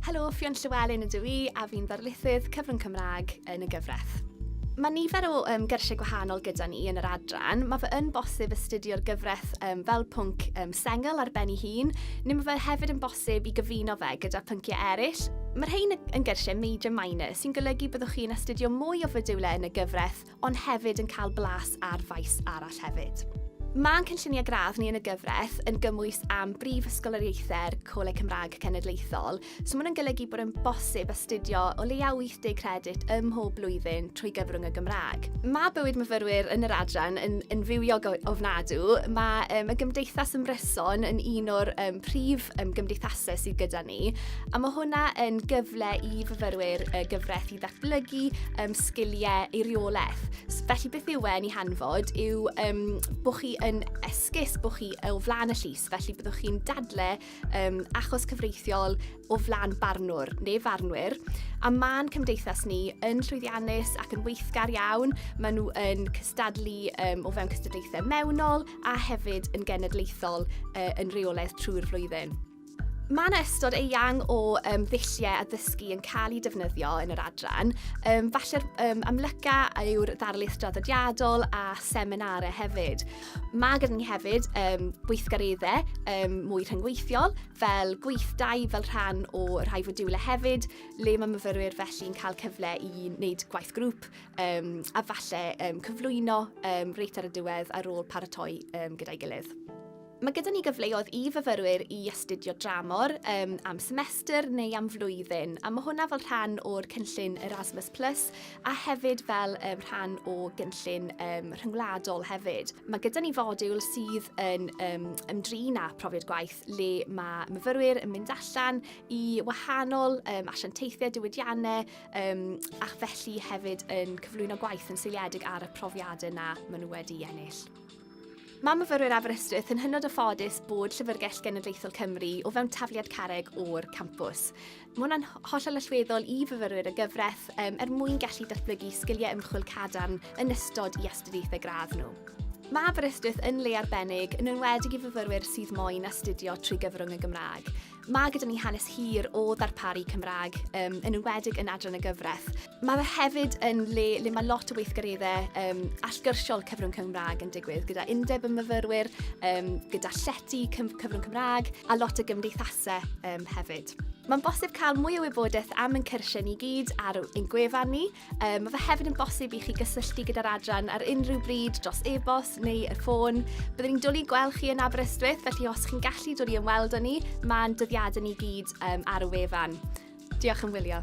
Helo, Ffion Llewellyn ydw i a fi'n ddarlithydd cyfrwng Cymraeg yn y gyfraith. Mae nifer o um, gyrsiau gwahanol gyda ni yn yr adran. Mae fe yn bosib astudio'r gyfraith um, fel pwnc um, sengl ar ben ei hun, neu mae fe hefyd yn bosib i gyfuno fe gyda pynciau eraill. Mae'r rhain yn gyrsiau major minor, sy'n golygu byddwch chi'n astudio mwy o fodiwlau yn y gyfraith ond hefyd yn cael blas ar faes arall hefyd. Mae'n cynlluniau gradd ni yn y gyfraith yn gymwys am brif ysgoloriaethau'r Coleg Cymraeg Cenedlaethol, so mae'n golygu bod yn bosib astudio o leiaf 80 credit ym mhob blwyddyn trwy gyfrwng y Gymraeg. Mae bywyd myfyrwyr yn yr adran yn, yn fywiog ofnadw. Mae um, y Gymdeithas Ymryson yn un o'r um, prif um, gymdeithasau sydd gyda ni, a mae hwnna yn gyfle i fyfyrwyr y gyfraith i ddatblygu um, sgiliau eiriolaeth. Felly beth yw e'n ei hanfod yw um, bod chi yn esgus, bod chi o flaen y llys, felly byddwch chi'n dadle um, achos cyfreithiol o flaen barnwr neu farnwyr. A mae'n cymdeithas ni yn llwyddiannus ac yn weithgar iawn. Maen nhw yn cystadlu um, o fewn cystadlaethau mewnol a hefyd yn genedlaethol uh, yn reolaeth trwy'r flwyddyn. Mae yna ystod eang o um, ddulliau addysgu yn cael eu defnyddio yn yr adran. Um, falle'r um, amlyca yw'r ddarlith draddodiadol a seminarau hefyd. Mae gyda ni hefyd um, gweithgareddau um, mwy rhyngweithiol fel gweithdai fel rhan o rhai fodiwlau hefyd le mae myfyrwyr felly'n cael cyfle i wneud gwaith grŵp um, a falle um, cyflwyno um, reit ar y diwedd ar ôl paratoi um, gyda'i gilydd. Mae gyda ni gyfleoedd i fyfyrwyr i astudio dramor um, am semester neu am flwyddyn, a mae hwnna fel rhan o'r cynllun Erasmus Plus a hefyd fel um, rhan o gynllun um, rhyngwladol hefyd. Mae gyda ni fodiwl sydd yn um, ymdrin â profiad gwaith le mae myfyrwyr yn mynd allan i wahanol um, asiantaethau diwydiannau um, ac felly hefyd yn cyflwyno gwaith yn seiliedig ar y profiadau yna maen nhw wedi ennill. Mae myfyrwyr Aberystwyth yn hynod o ffodus bod Llyfrgell Genedlaethol Cymru o fewn tafliad carreg o'r campws. Mae hwnna'n hollol allweddol i fyfyrwyr y gyfraith um, er mwyn gallu datblygu sgiliau ymchwil cadarn yn ystod i astudiaethau gradd nhw. Mae Aberystwyth yn le arbennig, yn enwedig i fyfyrwyr sydd moyn astudio trwy gyfrwng y Gymraeg. Mae gyda ni hanes hir o ddarparu Cymraeg, um, yn enwedig yn adran y gyfraith. Mae fe hefyd yn le le mae lot o weithgareddau um, allgyrsiol cyfrwng Cymraeg yn digwydd, gyda undeb y myfyrwyr, um, gyda llety cyfrwng Cymraeg a lot o gymdeithasau um, hefyd. Mae'n bosib cael mwy o wybodaeth am ein cyrsiau ni gyd ar ein gwefan ni, Um, mae fe hefyd yn bosib i chi gysylltu gyda'r adran ar unrhyw bryd dros e-bost neu y ffôn. Byddwn ni'n dwlu gweld chi yn Aberystwyth, felly os chi'n gallu dod i ymweld â ni, mae'n dyddiadau ni gyd um, ar y wefan. Diolch yn wylio.